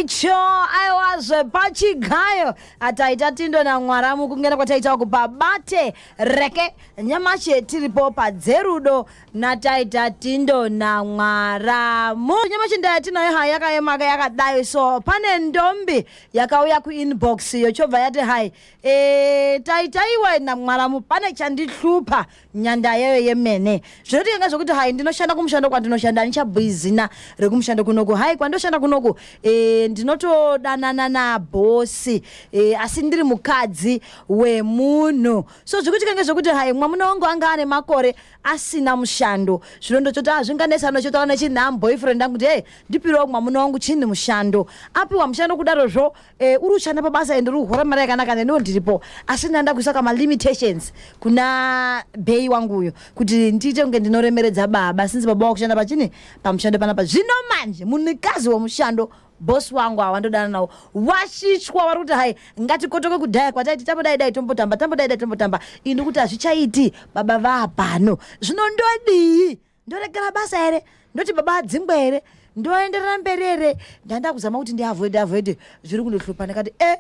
icho aiwazve pachigayo ataita tindo namwaramu kungena kwataita uku pabate reke nyamashi tiripo padzerudo nataita tindo namwaramu nyamashi ndaya tinayo hai yakayemaka yakadai so pane ndombi yakauya kuinbox yochobva yati hai e, taitaiwe namwaramu pane chandihlupa nyanda yayo yemene zvinoti yanga zvokuti hai ndinoshanda kumushando kwandinoshanda handichabhuyi zina rekumushando kunoku hai kwandoshanda kunoku e, ndinotodanana nabhosi e, asi ndiri mukadzi wemunhu so zvikuti kange zvokuti hai mwamuna wangu anga ane makore asina mushando zvino ndochoti hazvinganesa anochotaura nechinham boyfriend angu kuti hey ndipiriwo mwamuna wangu chini mushando apiwa mushando kudarozvo Eh, uri ushanda pabasa and uri kuhora mari yakanaka neniwo ndiripo asi ndanda kuisa kama limitations kuna bhei wangu uyo kuti ndiite kunge ndinoremeredza baba since baba wakushanda pachini pamushando panapa zvino manje munikazi wemushando bosi wangu awa ndodana nawo washichwa wari kuti hai ngatikotoke kudhaya kwataiti tambodai dai tombotamba tambodai dai tombotamba ini kuti hazvichaiti baba vapano zvino ndodii ndoregera basa here ndoti baba adzingwa here ndoenderera mberi here ndanda kuzama kuti ndiavoide avoide zviri kundohlupa ndikati e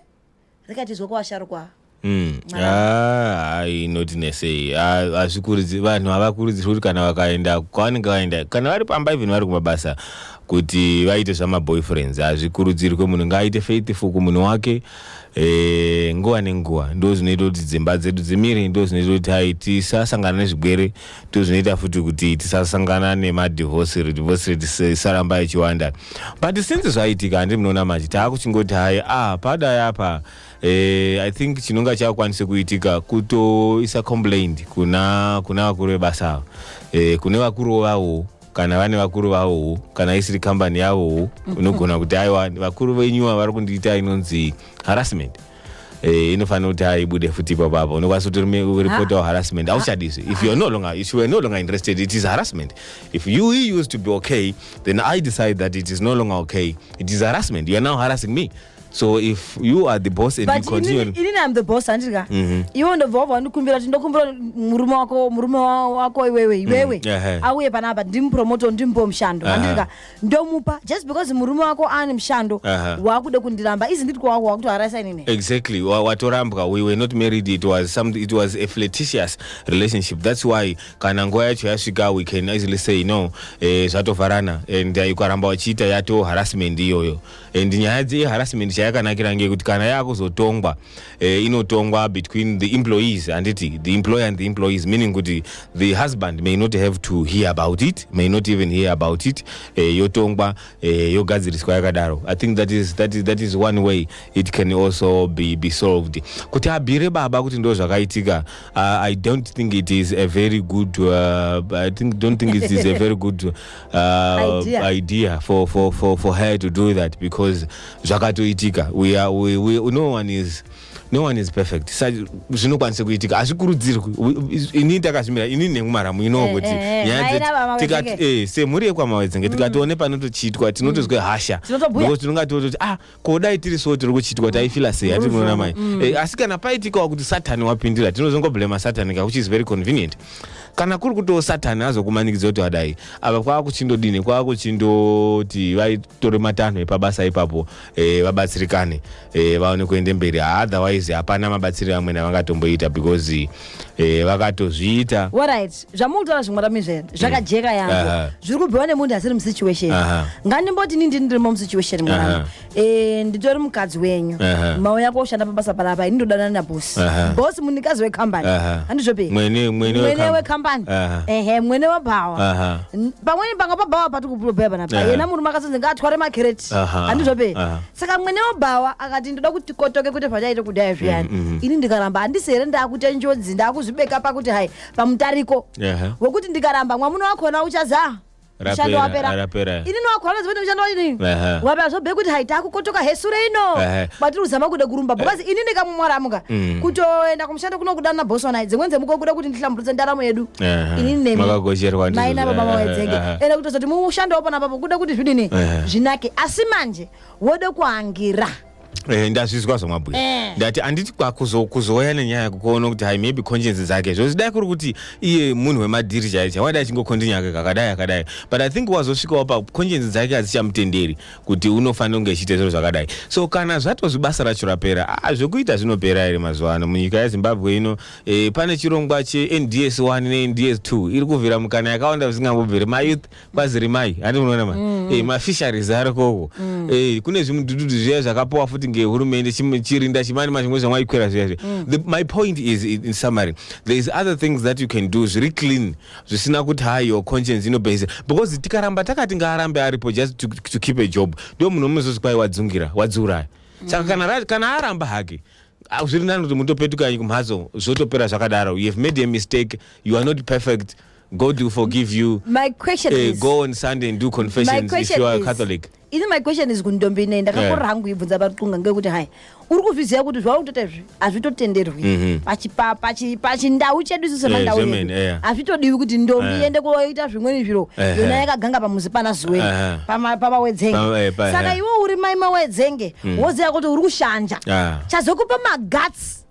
rikatizwa kwavasharukwa Mm. Ah, inoti nesei Ah, hazvikurudziri vanhu havakurudzirwi kuti kana vakaenda kwavanenge vaenda kana vari pamba even vari kumabasa kuti vaite zvamaboyfriends hazvikurudzirwe munhu ngaaite faithful kumunhu wake eh, nguva nenguva ndo zvinoita kuti dzimba dzedu dzimire ndo zvinoita kuti hai tisasangana nezvigwere ndozvinoita futi kuti tisasangana nemadivorce divorce rate isaramba ichiwanda but since zvaitika handi munoona mati taakuchingoti hayi ah padai apa eh, i think chinonga chakwanise kuitika kutoisa complaint kuna kuna vakuru vebasa ava eh, kune vakuru vawo kana vane vakuru vavowo kana isiri kambani yavowo unogona kuti aiwa vakuru venyuwa vari kundiita inonzi harassment mm -hmm. Eh, inofanira kuti haibude futi ipapo apo unokwanisa kuti report our harassment hauchadisi if you're no longer if you were no longer interested it is harassment if you used to be okay then i decide that it is no longer okay it is harassment you are now harassing me so if you are the boss and but you continue but inini i'm the boss andiri ka mhm. iwe ndobva wabva wandikumbira kuti ndokumbira murume wako murume wako iwewe mhm. iwewe auye panapa ndimupromoto ndimbo mushando andiri ka ndomupa just because murume wako ane mushando Aha. wakuda kundiramba isn't it kwawako wakutoharaisa inini exactly Wa- watorambwa we were not married it was some it was a flirtatious relationship that's why kana nguva yacho yasvika we can easily say no eh, zvatovharana and eh, ukaramba wachiita yato harassment iyoyo and nyaya dzeharassment chayakanakira ngeyekuti kana yakuzotongwa eh, inotongwa between the employees handiti the employer and the employees meaning kuti the husband may not have to hear about it may not even hear about it eh, yotongwa eh, yogadziriswa yakadaro i think that is, that is, that is one way it can also be, be solved kuti abire baba kuti ndo zvakaitika uh, i don't think it is a very good uh, i think, don't think it is a very good uh, Idea. idea for, for, for, for her to do that because zvakatoitika we are, we, we, no one is no one is perfect Sa- zvinokwanisa kuitika hazvikurudzirwi We- is- ini takazvimira ini nemumaramu inowo Eh, kuti eh, eh, nyaya maina vamawedzenge. dzetikat eh, semhuri yekwamawedzenge tikatione panotochiitwa tinotozwa hasha Tinotobhuya. Because tinonga tototi ah ko dai tiri so tiri kuchiitwa taifila sei hatiri kunoona mai mm. eh, asi kana paitikawo kuti satani wapindira tinozongoblema satani ka which is very convenient kana kuri kutiwo satani azokumanikidza kuti wadai ava kwava kuchindodini kwava kuchindoti vaitore matanho epabasa ipapo eh, vabatsirikane eh, vaone kuende mberi otherwise hapana mabatsiriro amwene avangatomboita because Eh, vakatozviita orit zvamukutaura zvimwe ramizvere zvakajeka yangu zviri kubhuiwa nemunhu asiri musituation ngandimboti ni ndini ndirimo musituation mwana eh, nditori mukadzi wenyu mauya koshanda pabasa panapa ini ndodanana nabosi bosi munikazi wekambani handizvope mwene wekambani ehe mwene webhawa pamweni panga pabhawa pati kupulobhea panapa yena murume akazonzi ngaatware makereti handizvope saka mwene webhawa akati ndoda kuti tikotoke kuti zvachaita kudai zviyani mm, mm, mm. ini ndikaramba handisi here ndaakuita njodzi ndaakuzvibeka pakuti hai pamutariko wekuti ndikaramba mwamuno wakona uchazaa mushando wapera ini nowakona zivoti mushando wachini wapera zvobhee kuti hai taakukotoka hesure ino batiri kuzama kuda kurumba bhokazi ini ndikamumwaramuka mm. kutoenda kumushando kuno kudana na bosi wanai dzimweni dzemuko kuda kuti ndihlamburutse ndaramo yedu ini nemaina baba mawedzenge ende kutozoti mushando wapona papo kuda kuti zvidini zvinake asi manje wode kuangira Eh, ndazvizwa zvamabhuya Eh. ndati anditi kwakuzo- kuzouya nenyaya yako kuona kuti hai maybe conscience dzake zvozi dai kuri kuti iye munhu wemadhiri chaiye chaiye wadai achingokontinya ake kakadai akadai but i think wazosvikawo pa conscience dzake hadzichamutenderi kuti unofanira kunge echiita zviro zvakadai so kana zvatozvi basa racho rapera ah, zvekuita zvinopera here mazuva ano munyika yezimbabwe ino eh, pane chirongwa chends 1 nends 2 iri kuvhira mukana yakawanda zvisingambobviri mayouth kwaziri mai ati unoona mai mm. eh, mafisheries arikoko mm. eh, kune zvimudududu zviya zvakapowa futi ngehurumende chirinda chimani mazvimwe zvamwaikwira zviya zviya mm. my point is in summary there is other things that you can do zviri clean zvisina kuti ha your conscience inobhesa because tikaramba takati ngaarambe aripo just to, to keep a job ndo munhu omuzozvi kwai wadzungira wadziuraya mm. saka kana, kana aramba hake ah, zviri nani kuti mutopetukanyi kumhatso zvotopera zvakadaro you have made a mistake you are not perfect God will forgive you. My question uh, is go on Sunday and do confessions if you are is, Catholic. Ini my question is kundombi ine ndakakorera hangu ibvunza paruxunga ngekuti hai uri kuzviziva kuti zvauri kutoita izvi hazvitotenderwi mhm. pachindau chedu isu semandau eh, yedu eh. hazvitodiwi kuti ndombi iende eh. koita zvimweni zviro yona yakaganga pamuzi pana zuweni pamawedzenge saka iwe uri mai mawedzenge mm. woziva kuti uri kushanja ah. chazokupa maguts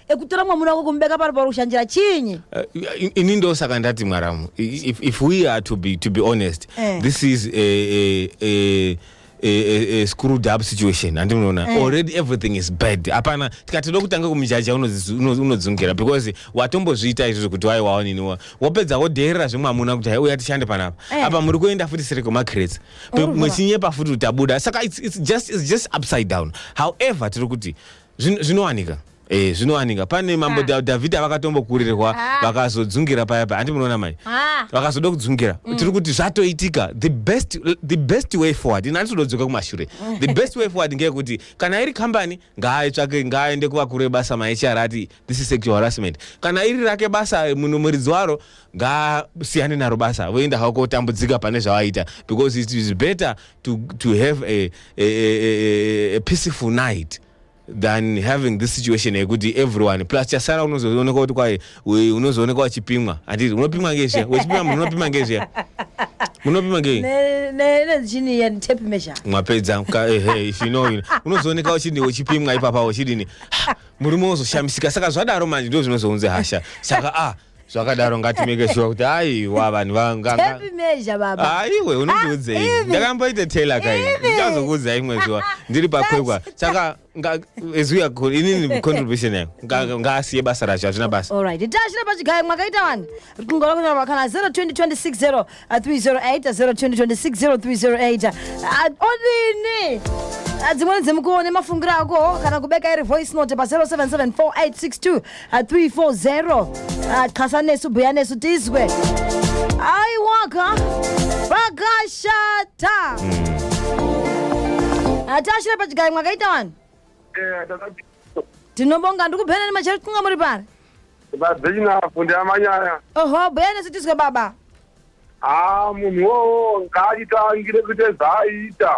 ekutora mwamuna wako kumubeka pari pauri kushandira chinyi eh, ini ndo saka ndati mwaramu if we are to be, to be honest eh. this is a, a, a A, a, a screwed up situation handi munoona mm. already everything is bad hapana tikati dokutanga kumujaja unodzungira because watombozviita izvo zvekuti wai waoniniwa wopedza wodheerera zvemwamuna kuti haiuya tishande panapa mm. apa muri kuenda futi siri kwemacrets mwechinyepa futi utabuda saka it's, it's, just, it's just upside down however tiri kuti Zvino- zvinowanika Eh, zvinowanika pane mambo Da- dhavhidha vakatombokurirwa Ah. vakazodzungira paya paya handi munoona mai Ah. vakazoda kudzungira tiri kuti zvatoitika the best, the best way forward ini handisododzoka kumashure the best way forward ngeyekuti kana iri kambani ngaaitsvake ngaaende kuvakuru vebasa mahr ati this is sexual harassment kana iri rake basa munhu muridzi waro ngaasiyane naro basa voenda havo kotambudzika pane zvavaita because it is better to, to have a, a, a, a peaceful night than having this situation yekuti everyone plus chasara unozooneka kuti kwaye unozooneka wachipimwa handiti unopimwa ngezviya wechipima munhu unopima ngezviya munopima ngemapedza unozooneka uchidi uchipimwa ipapa uchidini murume wozoshamisika saka zvadaro manje ndo zvinozounze hasha saka a ah, zvakadaro ngatimeke shuwa kuti aiwa vanhu vangangaaiwe unondiudzei ah, ndakamboita tailor kai ndichazokuudza imwe zuva ndiri pakwekwa saka ezuya inini contribution yayo ngaasiye basa racho hazvina basa makaita wani kungorokutaura kana 02026 Uh, 308 02026 0308 uh, odini Uh, dzimweni dzemukuwo nemafungira ako kana kubeka iri voice note pa 0774862340 xasa nesu bhuya nesu tizwe aiwaka pakashata atashire pachigayi mwakaita vanhu Eh, ndakati- tinobonga ndikuphenani machero kunga muri pari Vabhinyafu ndiamanyaya. Oho, bhuya nesu tizwe baba. Ah, munhu wowo ngaachitangire kuti zvaaita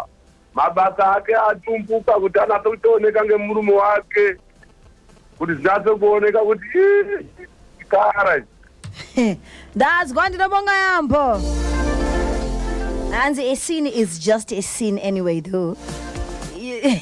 mabasa ake atumbuka kuti anase kutooneka ngemurume wake kuti zvinase kuoneka kuti chikara ndazwa ndinobonga yambo hanzi a scene is just a scene anyway though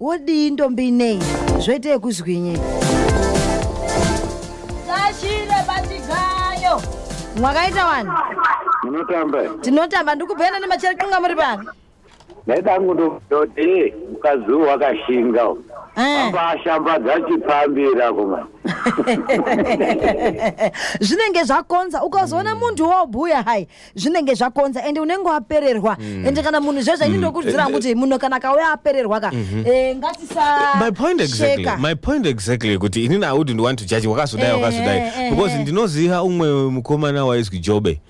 wodii ndombi nei zvoita yekuzwinyi sashire bachigayo mwakaita wani munotamba tinotamba ndikubhuyana nemachero kunga muri pano ndaidangu ndoti mukadzi uyu wakashinga eh. ambashambadza chipambira kuma zvinenge zvakonza ukazoona munhu wobhuya hai zvinenge zvakonza ende unenge wapererwa mm. ende kana munhu zvezvo ini mm. ndokurudzira hangu kuti munhu kana kauya apererwa ka mhm. eh, ngatisashekamy point exactly yekuti inini i wouldn't want to judge wakazodai eh, wakazodai eh, because ndinoziva umwe mukomana waizwi jobe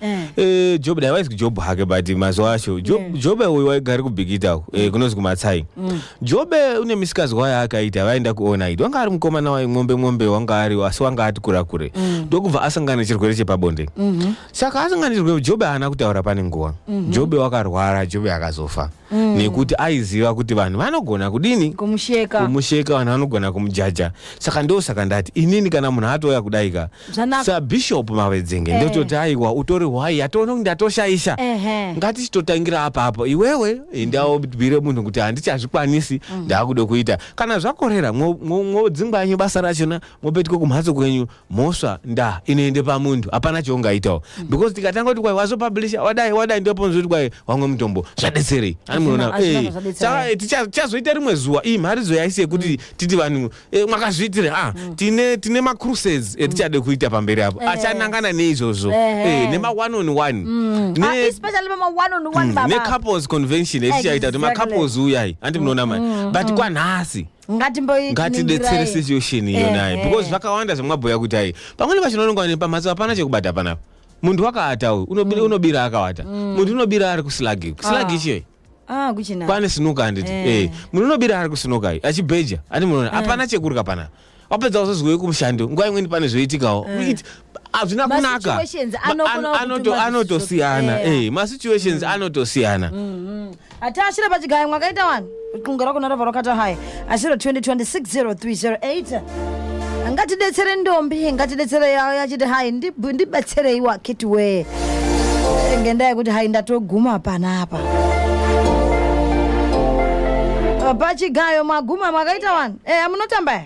jobe dai waizwi job hake but mazuva acho jobe uyu waigari kubhikita mm. kunonzi kumatsai mm. jobe une misikazwa yaakaita vaenda kuona idi wanga ari mukomana waimwombe mwombe wanga ari asi wanga ati kura kure ndokubva asangana nechirwere chepabonde mhm. saka asingandirwe jobe haana kutaura pane nguva Mhm. jobe wakarwara jobe akazofa Mm. nekuti aiziva kuti vanhu vanogona kudini kumusheka kumusheka vanhu vanogona kumujaja saka ndosaka ndati inini kana munhu atouya kudaika Zvanaka. sabishop mavedzenge Eh. ndototi aiwa utori hwai atoona kuti ndatoshaisha Ehe. ngatichitotangira apa apo iwewe ndaobire munhu kuti handichazvikwanisi Mm. ndaakuda kuita kana zvakorera mwo- mwo- mwodzingwa yenyu basa rachona mwopetuka kumhatso kwenyu mhosva nda inoende pamunhu hapana chaungaitawo mm. because tikatanga kuti kwai wazopublisha wadai wadai ndoponza kuti kwai wamwe mutombo zvadetserei ani munoona eh, eh, tichazoita rimwe zuwa iyi mharidzo yaisi yekuti mm. titi vanhu eh, mwakazviitire a ah, mm. tine tine macruses etichade kuita pamberi apo achanangana neizvozvo nema one on one ah, necouples convention etichaita kuti macouples uyai andi munoona mani but kwanhasi ngatimboiningirai. ngatibetsere situation iyo Eh, naye eh. because zvakawanda zvamwabhuya kuti ayi pamweni pacho unononga kuti pamhatso hapana chekubata panapa munhu wakaata uyu unobira, unobira akawata munhu unobira ari kuslagi kuslagi Ah. chei Ah, kuchina. kwane sinuka handiti Eh. eh. munhu unobira ari kusinuka iyi achibheja ati munoona hapana chekurya panapa wapedza kuzozwei kumushando nguva imweni pane zvoitikawo It- hazvina Ma kunaka situations Ma- anokona an- anoto- kutuma anotosiyana zvichitokana. eh, masituations anotosiyana ati ashire pachigaya mwakaita wani kunga rako narava rakata haya ashiro 20260308 ngatidetsere ndombi ngatidetsere yawo yachiti hayi ndib- ndibetserei wakiti wee ngendaa yekuti hayi ndatoguma panapa pachigayo maguma mwakaita wani eya munotamba ya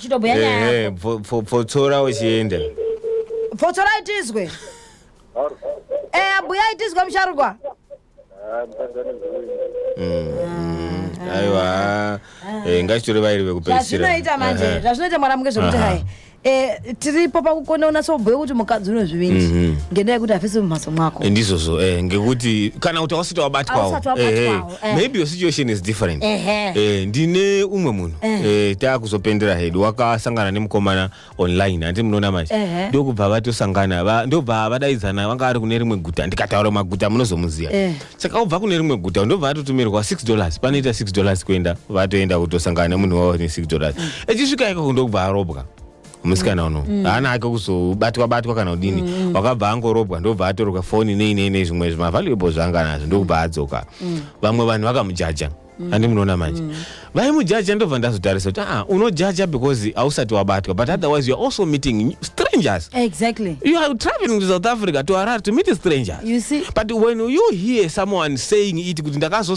chitobhuya nyaya Ehe, yako pfo- pfo- pfotsora uchienda pfotsorai tizwe eya buyai tizwe musharukwa Mm, aiwa Eh, ngachitore vairi vekupedzisira zvazvinoita manje Ehe. zvazvinoita mwana muke zvekuti Aha. hai eh, tiripo pakukona unatsobhuya kuti mukadzi une zvivindi Mhm. ngendaa yekuti hafisi mumhatso mwako Eh, ndizvozvo eh, ngekuti kana kuti ausati wabatwawo Ausati wabatwawo. Ehe. eh. maybe your situation is different eh, ndine umwe munhu eh. eh, taakuzopendera hedu wakasangana nemukomana online handi munoona manje eh. ndokubva vatosangana va, ndobva vadaidzana vanga vari kune rimwe guta ndikataura maguta munozomuziva eh. saka ubva kune rimwe guta ndobva vatotumirwa 6 dollars panoita 6 dollars kuenda vatoenda kutosangana nemunhu wavo ne 6 dollars mm. echisvika ikoko ndokubva arobwa musikana uno mm. haana ake kuzobatwa batwa kana kudini mm. wakabva angorobwa ndobva atoroka foni nei nei nei zvimwe zvimavaluable zvanga nazvo ndokubva adzoka mm. vamwe vanhu vakamujaja mm. andi munoona manje mm. vaimujaja ndobva ndazotarisa kuti ah unojaja because hausati wabatwa but otherwise youare also meeting strangers exactly you are traveling to south africa to arar to meet strangers you see but when you hear someone saying it kuti ndakazo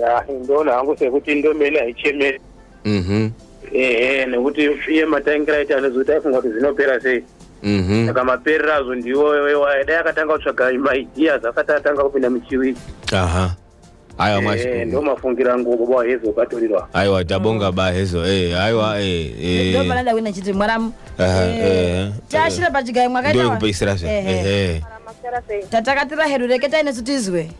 ya ndoona hangu sekuti ndomene haichemeri mhm ehe nekuti iye matangira aita anozoita aifunga kuti zvinopera sei mhm saka maperero azvo ndiwo wewaye dai akatanga kutsvaga maideas asati atanga kupinda muchiwiki aha aiwa Eh, mwashi ndo mafungiro angu baba wahezo ukatorirwa aiwa tabonga ba hezo eh aiwa eh eh ndopanada kuenda chiti mwaramu Aha, eh. taashira pachigayo mwakaita ndoyekupeisira zve ehe Masera sei? tatakatira hedu reketai nesu tizwe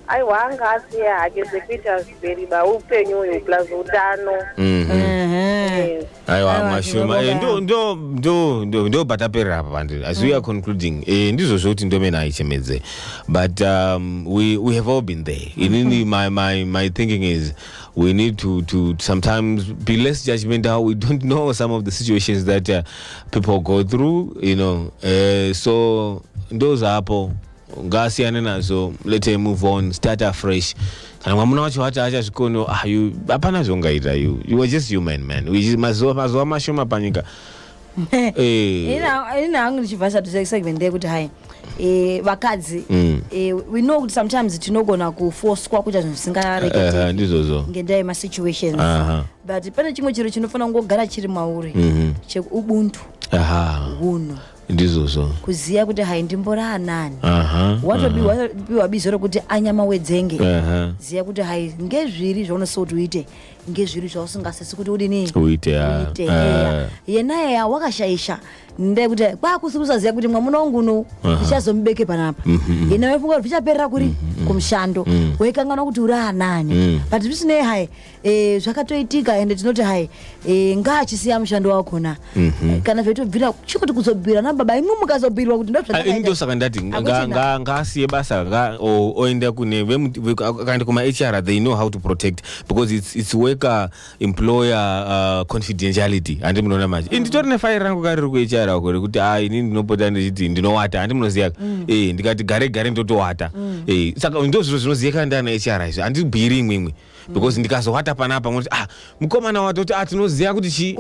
aiwa anga asiya hake dzekuita zviberiba upenyu uyu plus utano Mhm. Ehe. Yes. aiwa Aiwa, mashoma tinobonga Eh, ndo- yaamho. ndo- ndo- ndo- ndo pataperera apa pandi as we are concluding eh, ndizvo zvekuti ndomene aichemedze but um, we, we have all been there inini my, my, my thinking is we need to, to sometimes be less judgmental we don't know some of the situations that uh, people go through you know eh, so ndozvapo ngaasiyane nazvo let her move on start afresh kana mwamuna wacho wati achazvikono ah, you- hapana zvongaita you you are just human man We just- mazuva mazuva mashoma panyika Eh. ini hangu ndichibva chatu segment yekuti hai eh, vakadzi Mm. eh, we know kuti sometimes tinogona kufoswa kuita zvinhu Eh, zvisingarekete ndizvozvo ngendaa yemasituations Aha. but pane chimwe chiro chinofanira kungogara chiri mauri Mhm. cheubuntu aha hunhu ndizvozvo kuziva kuti hai ndimbori anani watopiwa bizo rokuti anyama wedzenge ziva kuti hai ngezviri zvaunosisa kuti uite ngezviri zvausingasisi kuti udini uite yenaye ya wakashaisha ndekuti kwakusi kusaziva kuti mwamuna wangu unou ndichazomubeke panapa mhm, mhm. yena wefunga kuti zvichaperera kuri mhm, kumushando wekanganwa kuti uri anani but zvisinei hai e, zvakatoitika ende tinoti hai e, ngaachisiya mushando wakona mm -hmm. kana zvaitobvira chikuti kuzobhira na baba imwe mukazobhirwa kuti ndozvandosaka ah, ndati ngaasiye basa nga oenda kune vakaenda kuma hr they know how to protect because it's, it's worker employer uh, confidentiality handi munoona manje mm -hmm. nditori nefire rangu ka riri kuhr ako rekuti a ah, ini ndinopota ndichiti ndinowata handi munoziva mm. e, ndikati gare gare ndotowata mm. e, saka ndo zviro zvinoziyekana ndiana hr izvi handibhiri imwe imwe because ndikazovata panapa moti ah mukomana watoti ah tinoziva kuti chi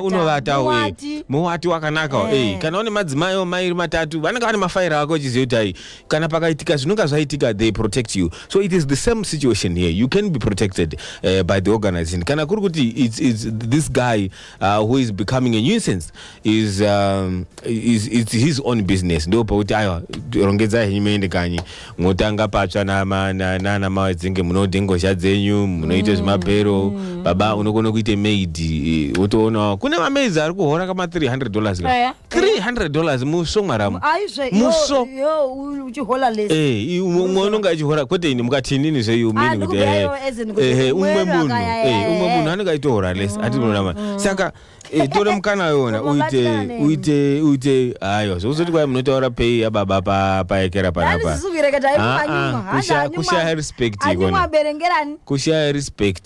unovatawo eh, eh, muwati wakanakawo eh. eh. kana une madzimai omairi matatu vanenge vane mafaira ako uchiziva kuti ai kana pakaitika zvinonga zvaitika they protect you so it is the same situation here you can be protected uh, by the organization kana kuri kuti it's, it's this guy Uh, who is becoming a nuisance is, um, is, is his own business ndo pakuti aiwa rongedzai henyu muende kanyi mwotanga patsva nana mawedzinge munode ngozha dzenyu munoita mm. zvemabhero mm. baba unokona kuita maid eh, wotoonawo kune mamaids ari kuhora kama 300 dollars ka yeah. 300 dollars muso mwaramu aizve muso uchihola less eh umwe unonga achihola kwete ini mukati inini zve you mean kuti eh eh umwe munhu eh umwe munhu anenge aitohola less ati munama mm. saka eh, tore mukana yona uite uite uite ayo zvozoti kwai munotaura pay ya baba pa paekera panapa ah, ah, kushaya respect ikona kushaya respect